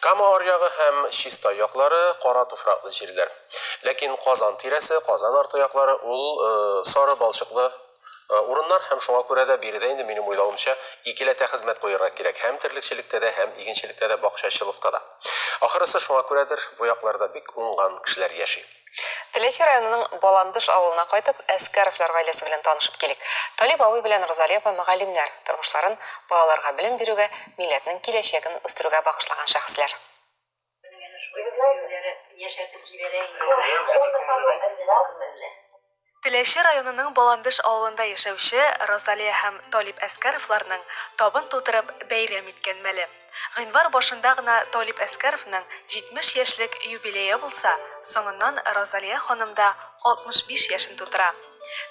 Кама аръягы һәм Чистай яклары, кара туфраклы җирләр. Ләкин Казан тирәсе, Казан арты яклары ул сары балчыклы урыннар һәм шуңа күрә дә биредә инде минем уйлавымча икеләтә хезмәт куерга кирәк, һәм терлекчелектә дә, һәм игенчелектә дә, бакчачылыкта да. Ахрысы шуңа күрәдер, бу якларда бик уңган кешеләр яши. Теләче районының Баландыш авылына кайтып, Әскәровлар гаиләсе белән танышып килик. Талип абый белән Розали апа мөгаллимнәр, тормышларын балаларга белем бирүгә, милләтнең киләчәген үстерүгә багышлаган шәхесләр. Һәм менә шулай киемнәре яшәртеп җибәрә инде. Теләче районының Баландыш авылында яшәүче Розалия һәм Талип Әскәровларның табын тутырып бәйрәм иткән мәле. Гыйнвар башында гына Талип Әскәровның 70 яшьлек юбилее булса, соңыннан Розалия ханым да 65 яшен тутыра.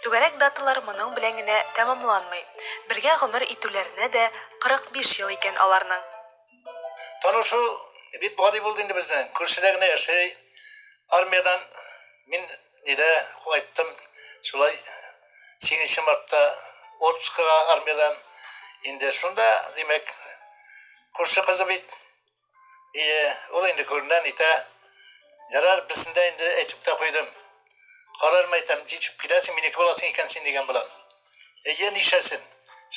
Түгәрәк даталар моның белән генә тәмамланмый. Бергә гомер итүләренә дә 45 ел икән аларның. Танышу бик гади булды инде безнең. Күршедә генә яши. Армиядән мин Нидә кайттым, шулай 8 мартта отпускага армиядән. Инде шунда, димәк, күрше кызы бит. И, ул инде күренә, нитә. Ярар, бисендә инде әйтеп тә куйдым. Карар мәйтәм, җитеп киләсең, минеке буласың икән син дигән белән. Әйе, нишәсен.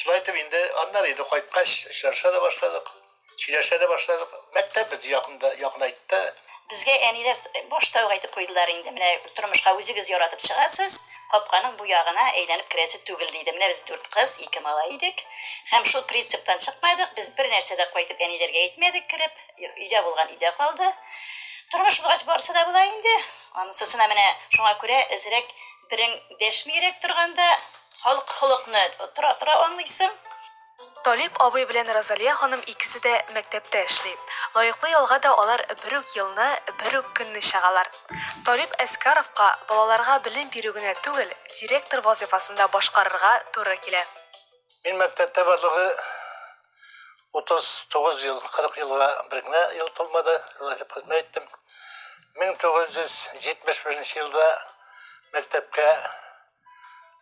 Шулай итеп инде, аннары инде кайткач, очраша да башладык. Сөйләшә дә башладык. Мәктәп безне якында, якынайтты. Безгә әниләр башта ук әйтеп куйдылар инде, менә тормышка үзегез яратып чыгасыз, капканың бу ягына әйләнеп керәсе түгел, диде. Менә без дүрт кыз, ике малай идек. Һәм шул принциптан чыкмадык, без бер нәрсә дә кайтып әниләргә әйтмәдек кереп, өйдә булган өйдә калды. Тормыш булгач барысы да була инде. Анысысына менә шуңа күрә әзрәк берең дәшмиерәк торганда, халык холыкны тора-тора аңлыйсың. Талип абый белән Розалия ханым икесе дә мәктәптә эшли. Лаеклы ялга да алар бер үк елны, бер үк көнне чыгалар. Талип Әскаровка балаларга белем бирү генә түгел, директор вазыйфасын да башкарырга туры килә. Мин мәктәптә барлыгы 39 ел, 40 елга бер генә ел тулмады, шулай итеп хезмәт иттем. 1971 елда мәктәпкә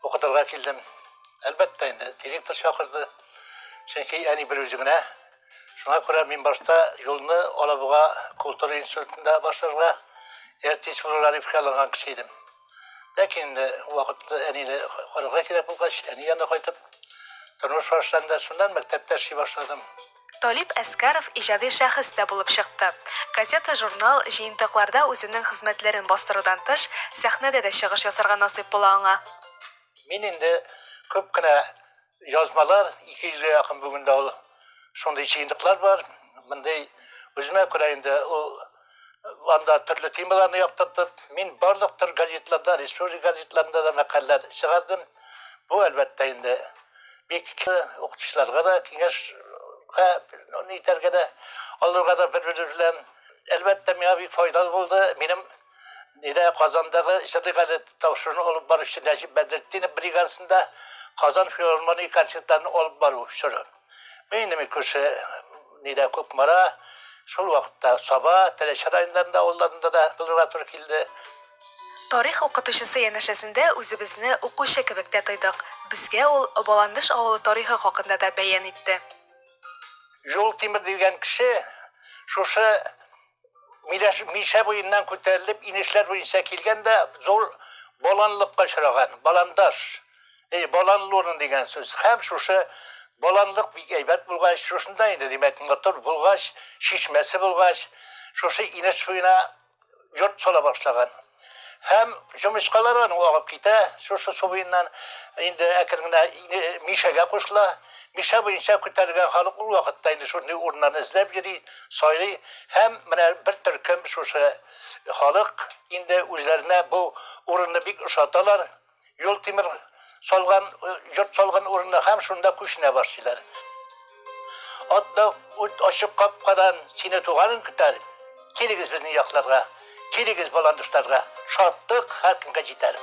укытырга килдем. Әлбәттә инде, директор чакырды. Чөнки әни бер үзе генә. Шуңа күрә мин башта юлны Алабуга культура институтында башларга әртис булырга дип хыялланган кеше идем. Ләкин инде вакытта әнине карарга кирәк булгач, әни янына кайтып, тормыш башланды. Шуннан мәктәптә эшли башладым. Талип Әскәров иҗади шәхес тә булып чыкты. Газета-журнал, җыентыкларда үзенең хезмәтләрен бастырудан тыш, сәхнәдә дә чыгыш ясарга насыйп була аңа. Мин инде күп кенә язмалар, ике йөзгә якын бүген дә ул шундый җыентыклар бар, мондый үземә күрә инде ул, анда төрле темаларны яктыртып, мин барлык төр газетларда, республика газетларында да мәкаләләр чыгардым. Бу, әлбәттә, инде бик укытучыларга да киңәш итәргә дә, алырга да бер-бер белән. Әлбәттә, миңа бик файдалы булды. Минем Нидә Казандагы җырлый газет тапшыруны алып баручы Нәҗип Бәдретдинов бригадасында Казан филармония концертларын алып бару чоры. Мин инде мин күрше нидә Кукмара, шул вакытта Саба, Теләче районнарында авылларында да булырга туры килде. Тарих укытучысы янәшәсендә үзебезне укучы кебек тә тойдык. Безгә ул Баландыш авылы тарихы хакында да бәян итте. Җултимер дигән кеше шушы Мишә буеннан күтәрелеп, инешләр буенча килгән дә зур баланлыкка очраган, баландаш. Эй, баланлурын дигән сүз. Һәм шушы баланлык бик әйбәт булгач, шушында инде, димәк, мотор булгач, чишмәсе булгач, шушы инеш буена йорт сала башлаган. Һәм җомычкалар аның агып китә, шушы су буеннан инде әкрен генә Мишәгә кушыла. Мишә буенча күтәрелгән халык ул вакытта инде шундый урыннарны эзләп йөри, сайлый һәм менә бер төркем шушы халык инде үзләренә бу урынны бик ошаталар. Юл тимер салган, йорт салган урынына һәм шунда күченә башлыйлар. Атта үт ачык капкадан сине туганын көтәр. Килегез безнең якларга, килегез баландышларга, шатлык һәркемгә җитәр.